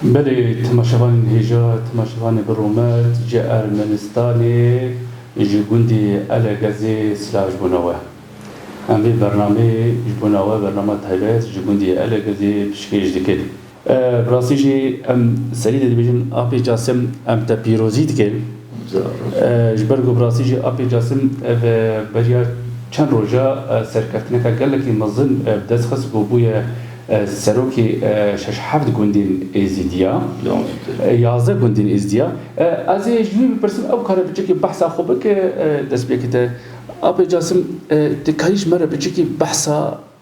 Belê temaşevanên hêja, temaşevanê bi rûmet ji Ermenistanê ji gundê Elegezê silah ji bo nawe. Em vê bernameyê ji bo nawe bernama taybet ji gundê Elegezê pişkêş dikin. Bi rastî jî em serî dê dibêjin Apê Casim em te pîrozî dikin. Ji ber ku bi rastî jî Apê Casim ev beriya çend roja serkeftineke gelekî mezin bi dest xist ku bûye serokê şeş heft gundên Êzidî ya, yazdeh gundên Êzidî ya. Ez ê ji wî bipirsim ew kare bi çekê behsa xwe bike destpêkite. Apê Casim tu karî ji me re bi çekê behsa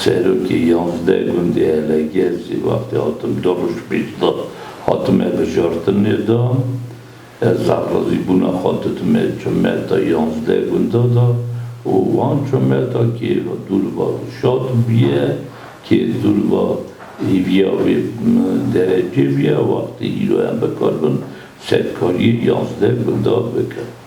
Serokê yazdeh gundê Heleger jî wextê hatim du roj pêş da hatime bijartinê da ez razîbûna xwe didime çometa yazdeh gunda da û wan çometa kê dûr va Rûşat bûye kê dûr va hêviya wê derecê bûye wextê îro em bikarbin serkariyê yazdeh gunda bikin.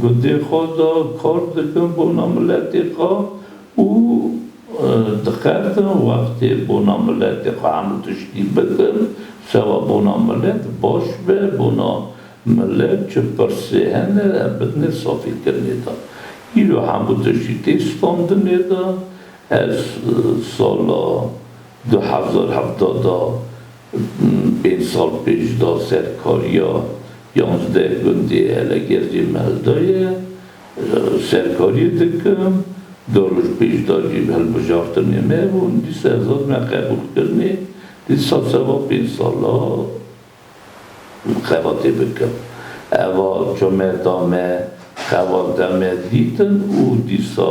Gundê xwe de kar dikin bona miletê xwe û dixebin wextê bona miletê xwe hemû tiştî bikin sewa bona milet baş be bona milet çi pirsê hene em bidinê safîkirinê de îro hemû tiştî tê standinê de ez sala du hezar hevdeh de Pênc sal pêş da ser kariya yanzdeh gundê Helegercê Meldayê serkariyê dikim. Du roj pêş da jî hilbijartinê me bûn. Dîsa zad me qebûl kirinê. Dîsa seba pênc sala xebatê bikim. Eva çome da me xebat deme dîtin û dîsa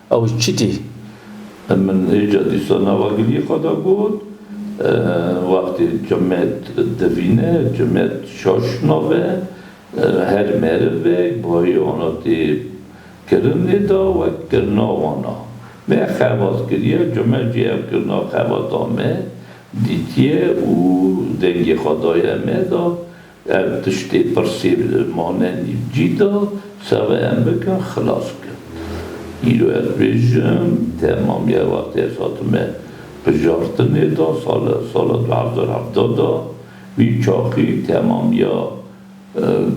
Ew çi tî? Min hêja dîsa nava gilî xwe da got, wextê Cimet divîne, Cimet şaş nave, her merivek bayana tê kirinê da wek kirina wan a. Me xebat kiriye, Cimet jî ev kirina xebata me dîtiye û dengê xwe daye me da, Ev tiştê pirsê bi manenî cîda serê em bike xilas bike. Îro ez bêjim temamiya wextê ez hatime bijartinê da sala sala du hezar hevda da wî çaxî temamiya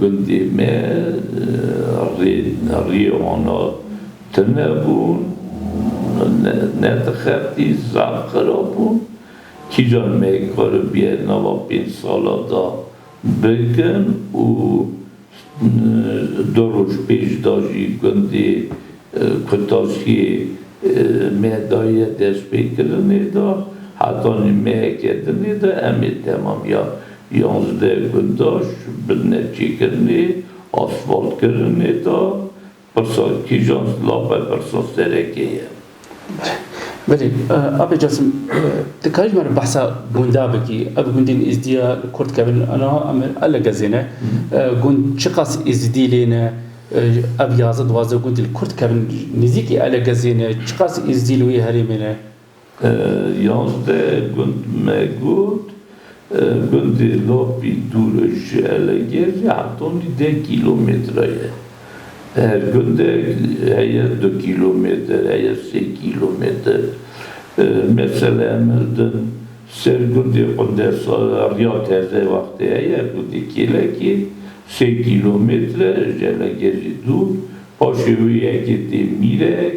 gundê me rê rîyê wana tune bûn ne ne dixebitî zaf xirab bûn. Kîjan me karibiye nava pênc sala da bikin û du roj pêş da jî gundê Kutaşiyê me daye destpêkirinê da hetanî me kedinê da em ê temamiya yanzdeh gundaş bidine çêkirinê, asfaltkirinê da. Pirsa, Kîjan zilam be pirsa serekê ye? Belê. Ape Casim, dikarî ji me re behsa gunda bikî? Ev gundên Êzidiya li kor dikevin niha em a legezê ne. Gund çiqas Êzidî lê ne? Ev yazdeh duwazdeh gundî li kor dikevin nêzîkî a legezê ne. Çiqas Êzidî li wê herêmê ne? Yazdeh gund me got, gundê Lapî dûr e ji Elegê jî heta nî deh kîlometre ye. Her gundek heye du kîlometer, heye sê kîlometer. Mesele em hildin ser gundê Qundesa riya teze wextê heye, gundê Kêlekê sê kîlometre e ji Elegê jî dûr, paşê wê yekê tê Mîrek,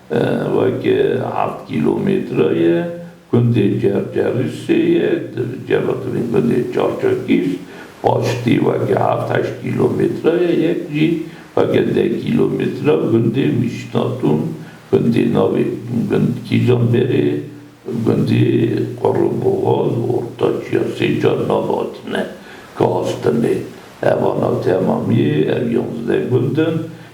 Weke heft kîlometre ye, gundê Cercerîsê ye, di civakirîn gundê Çarçakîş, paştî weke heft heşt kîlometre ye, yek jî weke deh kîlometre gundê Mîşnatûn, gundê navê gund Kîjanberê, gundê Qurrûboxaz, Ortaç ya sê car nav hatine, Kastine. Ev ana temamî ye, ev yanzdeh gund in,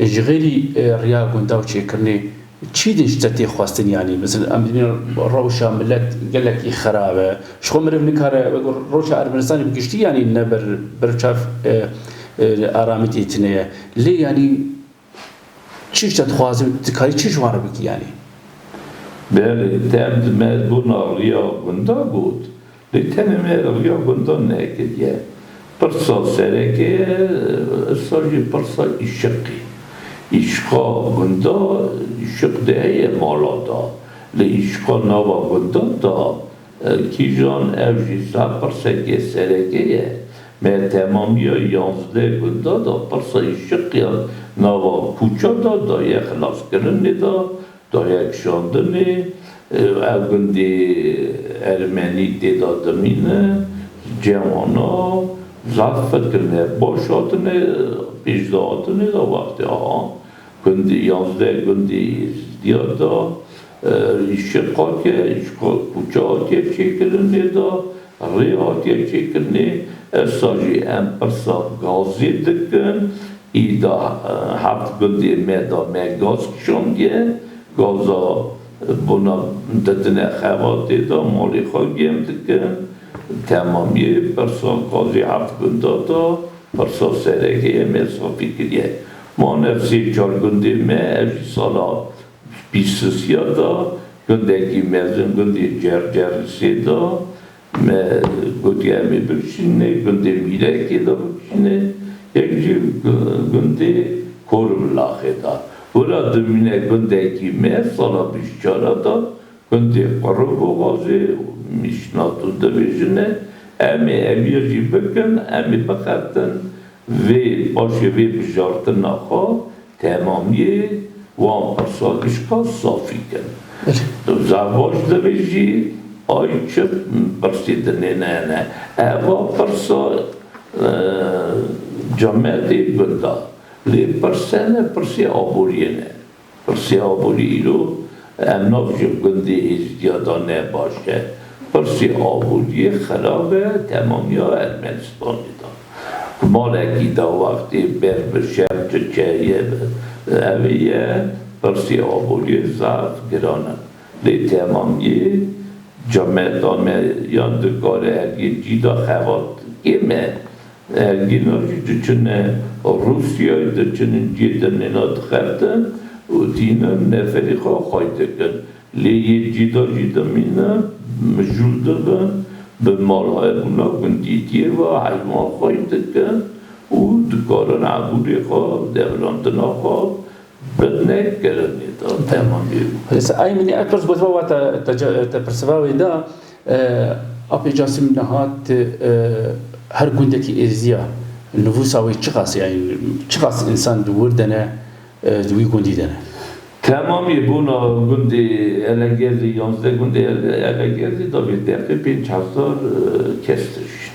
Ji xêrî riya gunda û çêkirinê çî din ji te tê xwestin yanî mesela em dibînin rewşa milet gelekî xerab e ji xwe meriv nikare wek rewşa Ermenistanê bi giştî yanî ne ber ber çav aramî tê tune ye lê yanî çi ji te dixwaze û tu dikarî çi ji wan re bikî yanî. Belê, te em di me bûna riya gunda got. Lê tenê me rêya gundan nekiriye. Pirsa sereke ye, êrsa jî pirsa îşiqê. Îşiqa gunda îşiq de heye mala da. Lê îşiqa nava gundan da kîjan ew jî saet pirseke sereke ye. Me temamiya yanzdeh gunda da pirsa îşiqiyan nava kûça da daye xilaskirinê da. Dayakşandinê ev gundê ermenî tê de dimîne, cewana zaf firkirine, baş hatine pêş de hatine de wextê aha gundê yazdeh gundê Êzidîyan de îşiq hatiye îşiqa kûça hatiye çêkirinê de Rêya kêfçêkirinê êrsa jî em pirsa gazê dikin, îda heft gundê me da me gaz kişandiye, gaza bona didine xebatê da malê xwe gêm dikin, temamiyê pirsa gazê heft gunda da pirsa sereke ye me safî kiriye. Manev sê çar gundê me ev jî sala Pîrsisiya da gundekî mezin gundê Cercer li sê da me gotiye em ê bikişînin nê gundê Mîrekê da bikişîne yek jî gundê Korimilaxê da wira dimîne gundekî me sala bîst û çar a da gundê Qiriboxazê û Mişnatû dibêjine em ê ev ya jî bikin em ê bixebtin Vê paşê vê bijartina xwe temamiyê wan pirsa gişka safî kin. Di zerbaştê ve jî ay çi pirsî dinêne hene. Eva pirsa cemedê gundan. Lê pirsene pirsê aboriyê ne. Pirsî aborî îro em nav ji gundê Êzidiya da ne baş e. Pirsî aborîyê xerab e temamîya Ermenistanê da. Ku malekî da wextê ber bi şer Tirkiyeyê ve ew ê ye, pirsî aborîyê zaf giran e. Lê temamîyê camêrda me yan di karê ergê cî da xebat kêm e. Hevgîna jî diçine Rûsyayê, diçin in cihê din nêna dixebtin û tînin neferî xwe xaç dikin. Lê yê cîda jî dimînin, mijûl dibin, bi malhayebûna gundîtiyê ve heywan xaç dikin û dikarin ebûnê xwe, devilandina xwe, Bernê keremê da dema bê bû. Hêsa ay minê ay pirs gotiba wata te pirsiva wê da apê Casîm niha ti her gundekî êzîya nivûsa wê çiqas e yanî çiqas însan di wir de ne di wî gundî de ne. Temamî bûna gundê Elegerlî yanzdeh gundê Elegerlî da vê deqê pênc hezar kes dijîn.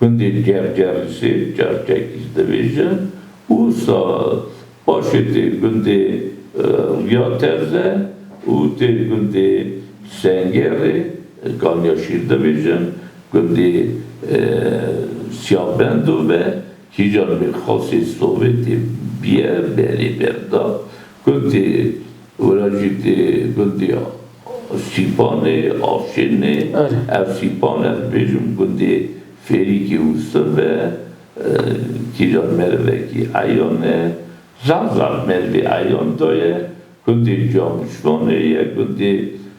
Gundên Gerger li sêv Çerçekî dibêje û saz. Paşê tê gundê Rûya Terze û tê gundê Sengerê Ganyaşîr dibêjin. Gundê Siyabendo ve kîjan Mîrxasê Sovetê biye berê berda Gundê Wirajîtê, Gundê Sîpanê, Avşênê, ev Sîpan e dibêjim gundê Fêrîkê Wûstin ve, kîjan merivekî eyan e, zaf zaf merivê eyan daye, gundê Camişvanê ye, gundê.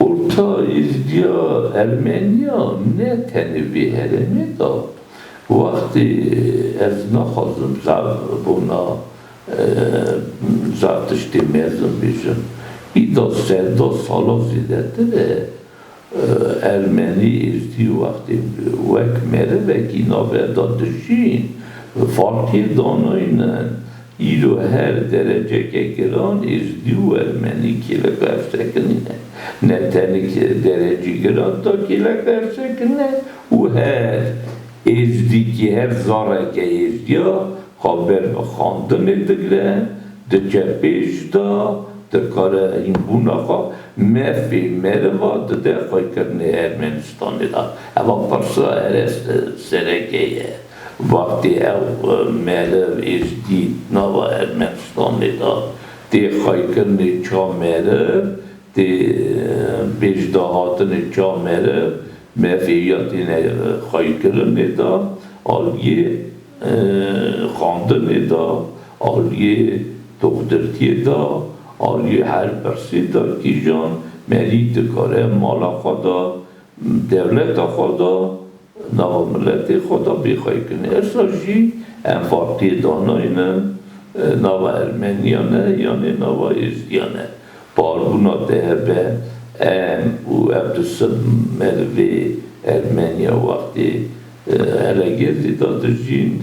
Orta Êzdiya Ermeniya ne tenê vê herêmê de wextê ez naxwazim zaf bona zaf tiştê mezin bêjim. Îda seda sala zêdetir e Ermenî Êzdî wextê wek merivekî navenda dijîn farkê danayne. Îro her dereceke giran ê ji dû wermenî kêleka hevştekirinê ne. Ne tenik derecî giran ta kêleka hevştekirinê û her êzdîkî, her zareke êzdiya xwe ber bi xwendinê digre, diçe pêş da, dikare hînbûna xwe mefê meriva dide xwekirnê Ermenistanê de. Eva pirsa ereste sereke ye. Wextê ew meriv ê ji dî nava Ermenistanê de tê xaykirinê ça meriv, tê pêşdahatinê ça meriv, mefê ya têne xaykirinê de, aliyê xandinê de, aliyê doxtirtiyê de, aliyê her pirsê de kîjan merî dikare mala xwe de Dewleta xwe da nava miletê xwe da bêxweyî kinê. Êrsa jî em partiyê danayne nava Ermeniya ne yanê nava Êzdiya ne. Barbûna DHB, em û ev du sed merivê Ermeniya wextê hele gêrdî da dijîn,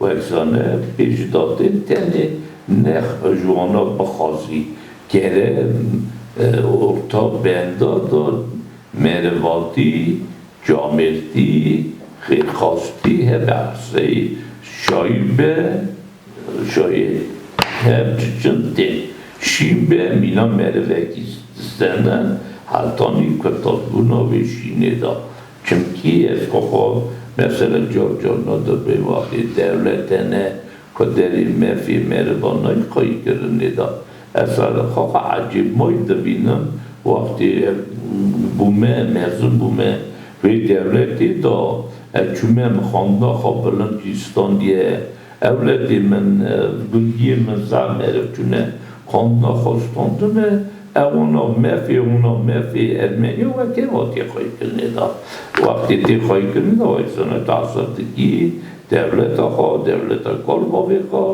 Werzane pê ji dadên tenê nex ji wana bixwazî kerem orta benda da merivatî, camêrtî, xêrxwastî hebe qisey şayî be şayê hev çiçin tên şîn be mîna merivekî dizene hetanî kurtazbûna wê şînê da. Çimkî ez xwe xwe mesela Giorgio Nodobê waxî dewlete ne ku derî mefî meriva nayî qayî kirinê da. Ez salê xwe xwe ecêb mayî dibînim wextê ev bûme mezin bûme vê dewletê da ez çûme min xwendina xwe bilind jî standiye ewletê min gundiyê min zaf meriv çûne xwendina xwe standine Ew ona mefê ona mefê Ermenî we kê hatiye xweykirinê de? Wextê tê xweykirinê de wek seneta Esadikî, dewleta xwe, dewleta kalbavê xwe,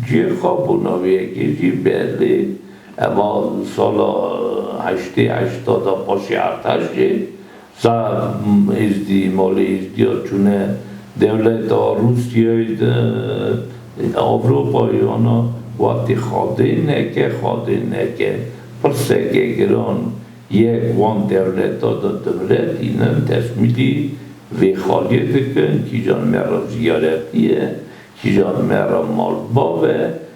cê xwe bo navê yekê jî belê. Ema sala heştê heşta de paşê Erteş jê. Za Îzdî, Molê Îzdî ya çûne dewleta Rûsyayê di Ewropayê ana wextê xadê neke, xadê neke. Pirseke giran yek wan dewleta de dimire tînin tesmîlî vê xaliyê dikin, kîjan me re ziyaretî ye, kîjan me re malbat e.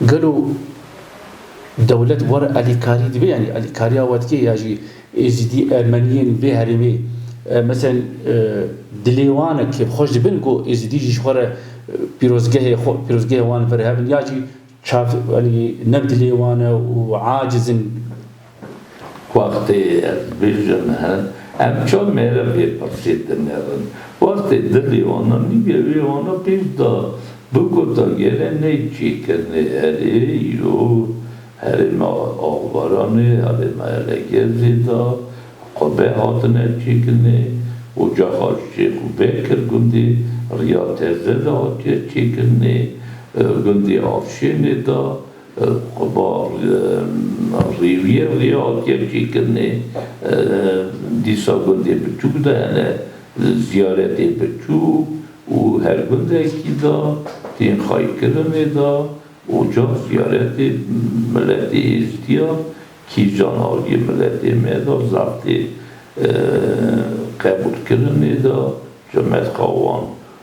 Gelo dewlet were alîkarî dibe yanî alîkariya we dike ya jî Êzîdî, Ermeniyên vê herêmê meselen dilê wan e kêfxweş dibin ku Êzîdî jî ji xwe re pîrozgehê xwe pîrozgehê wan virehevin ya jî çav yanî ne dilê wan e û aciz in. Wextê ez bijîm he, em çav mêrem vê pirsê dinêrin. Wextê dilê wana nîvê wê wana pêş da, bigota gelê ney çêkirine erê îro herêma Axbaranê, herêma Elegezê da xwe bê hatine çêkirine. Oca Haj Şêx û Bekir gundê Riya Teze da hatiye çêkirine, gundê Avşênê da, Qubal rêwiyên Real kêm çêkirinê dîsa gundê biçûk de hene, ziyaretê biçûk û her gundekî de tên xaykirinê de ocan ziyaretê miletê Êzdiya kîjan aliyê miletê me de zextê qebûlkirinê de rimet xwe wan.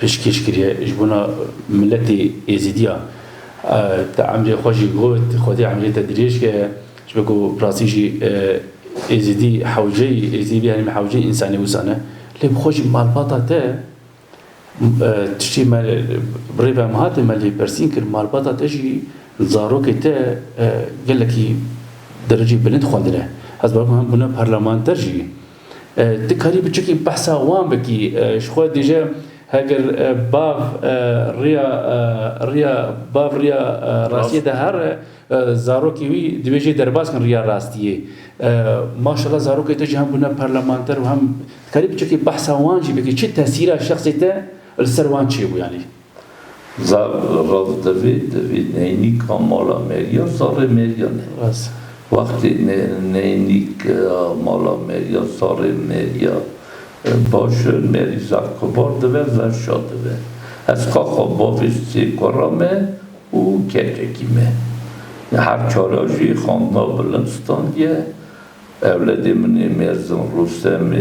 pêşkêş kiriye ji bona miletê êzîdiya te emrê xwe jî got xwedê emrê te dirêj ke ji ber ku bi rastî jî êzîdî hewceyî êzîdî bî herîm hewceyî însanê wisa ne lê bi xwe jî malbata te tiştê me bi rê ve em hatê me lê persîn kir malbata te jî zarokê te gelekî dereceyê bilind xwendine ez bawer dikim hem bûne parlemanter jî. Ti karî biçûkî behsa wan bikî. Ji xwe dije heger bav rêya rêya bav rêya rastiyê de here, zarokê wî divê jê derbas bin rêya rastiyê. Maşallah zarokê te jî hem bûne parlamenter û hem. Ti karî biçûkî behsa wan jî bikî. Çi tesîra şexsê te li ser wan çêbû yanî? Zar rav divê divê neynîka mala Merya sarê Meryan e. Wextê neynîk mala Merya sarê Merya baş e, Merî zar kibar dibe, zar şa dibe. Ez xaxa bavê sê kura me û keçekî me. Her çara jî xandina bilind standiye. Ewledê min ê mezin Rustem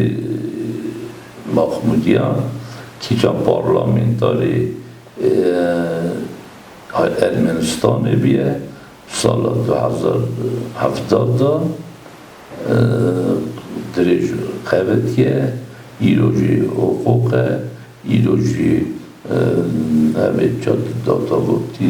Mahmudyan kîjan parlamentarê Ermenistanê bûye sala du hezar û hevdeh de dirêj xebitiye, îro jî hiqûq e, îro jî ev ê çad data gotî.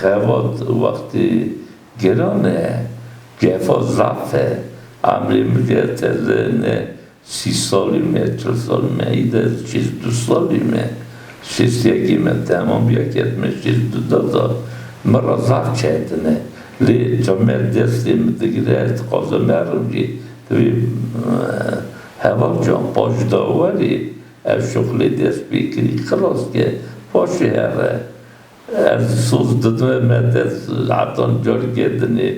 Xebat wextê geran e, gefa zaf e. Emrê min ke teze ne sî salî me, çil salî me, î de şêst û du salî me. Şêst û yekê me temam bîya ke me şêst û du da zaf. Min ra zaf çetin e. Lê ca me destê min digire, ez dixwazim herim jî di vê hevalcan paşdaw werê. Ev şuxlê dest pê kirî xilas ke paşê here. Ez soz didime me dest hetan carikê dinê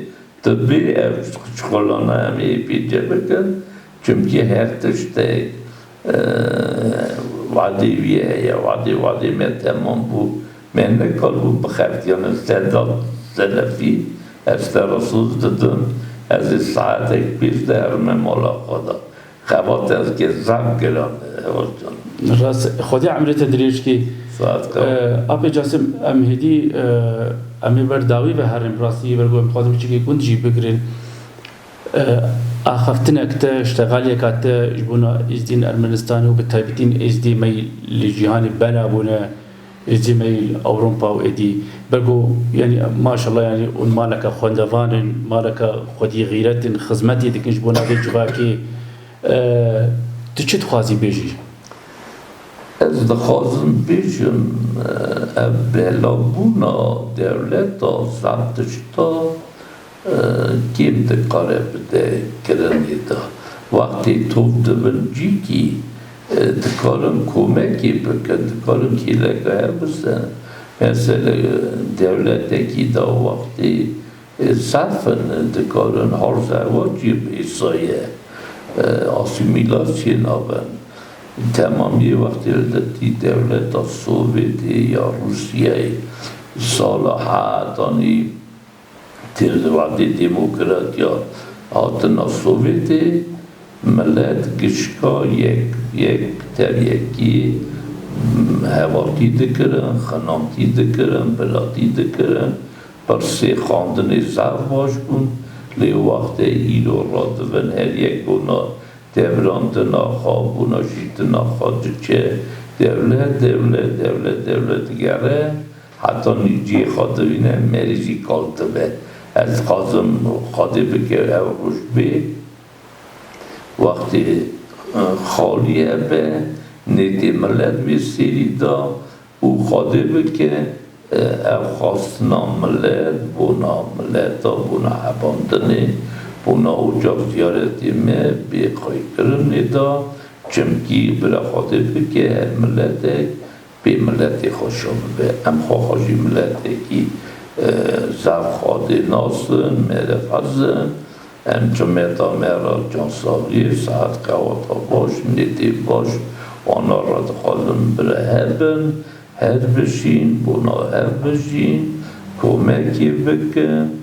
tu bê ev şuxlana em ê pê cih bikin çimkî her tiştek wadê wî heye wadê wadê me temam bû me nekaribû bixelqîyanin Sedat Selefî, Ez te re soz didim ez ê saetek pêş de herime mala xwe de. Xebat ez ke zaf giran hewirtin. Rast e. Xwedê emrê te dirêj kê. Saet ka. Apê Casim, em hêdî em ê ber dawî ve herin. Bi rastî yê ber ku em dixwazin biçûkê gund jî bigirin. Axaftinek te, îştegaliyeka te ji bona Êzdî ên Ermenistanê û bi taybetî ên Êzdî me yî li cîhanê bela bûne. Êdî meyîl Ewropa û êdî bego yanî maşallah yanî hûn maleke xwendevan in, maleke xwedîxîret in, xizmetê dikin ji bona vê civakê. Tu çi dixwazî bêjî? Ez dixwazim bêjim ev belavbûna dewleta zerdişta, Kêm dikare bide kirinê de. Wextê tov dibin cîkî dikarin komekê bikin, dikarin kêleka hev bisin. Mesele dewletekî da wextê serf in, dikarin halzehwacê bêsaye, asîmîlasyê nabin. Temamiyê wextê de tî dewleta Sovêtê ya Rûsyayê sala hetanî. Têrlewatê demokratiya hatina Sovyetê milet gişka yek yek teryekî hevatî dikirin, xinantî dikirin, bilatî dikirin. Pirsê xandinê zaf baş bûn. Lê wextê îro radivin her yek ona devran tina xwe, bona jî tina xwe diçe dewlet dewlet, dewlet dewlet digere. Heta nîv cihê xwe dirîne mêrê jî kal dibe. Ez dixwazim Xwedê bike ew roj bê wextê xalîye be nêtê milet wê sêrî da û Xwedê bike ew xwastina milet bona mileta bona hebandinê bona ocak ziyaretê me bê xwêkirinê da çimkî bira Xwedê bike her miletek Bê miletê xwe şon bibe. Em xwe xwe jî miletekî zaf xwedê nas in, mêrê hez in. Em timeta me re cansaviyê, sihet qeweta baş, nêtê baş wana re dixwazin bireheb bin, hev bijîn, bona hev bijîn, komekê bikin.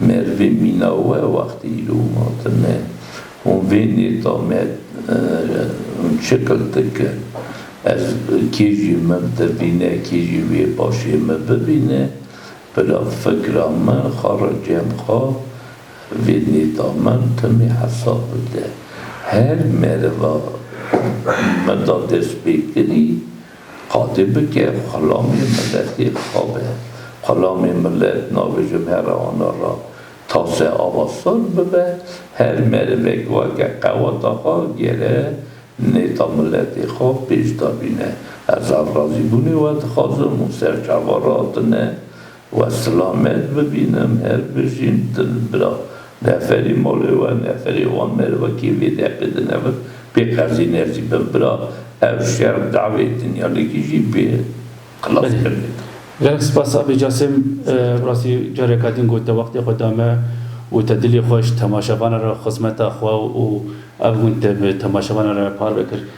Merve mîna we wextê îro û hatine. Hûn vê nêta me hûn çiqil dike. Ez kê jî min bibîne, kê jî wê paşê min bibîne, pira fikra min, xara cem xwe vê nêta min timî hesab bide. Her meriva min da destpêkirî. Qadê bike xelamê miletê bixabe. Xelamê milet navê ji vera wana ra tase ava saz bibe, her merivek weke qeweta xwe gere nêta miletê xwe pêş dabîne. Ez alrazîbûnê we dixwazim û serçava ra tune. We silamet bibînim her bijîn din bira neferî malê we neferî wan mêr wekî vê deqê dinevin pê qezî nesîbin bira ev şer dawê dinyalekî jî pê xilas kerdê to. Gelek spas Abê Casêm bi rastî careka din got te wextê xwe da me û te dilê xweş temaşevanan re xizmeta xwe û ev gund te bi temaşevanan re parve kir.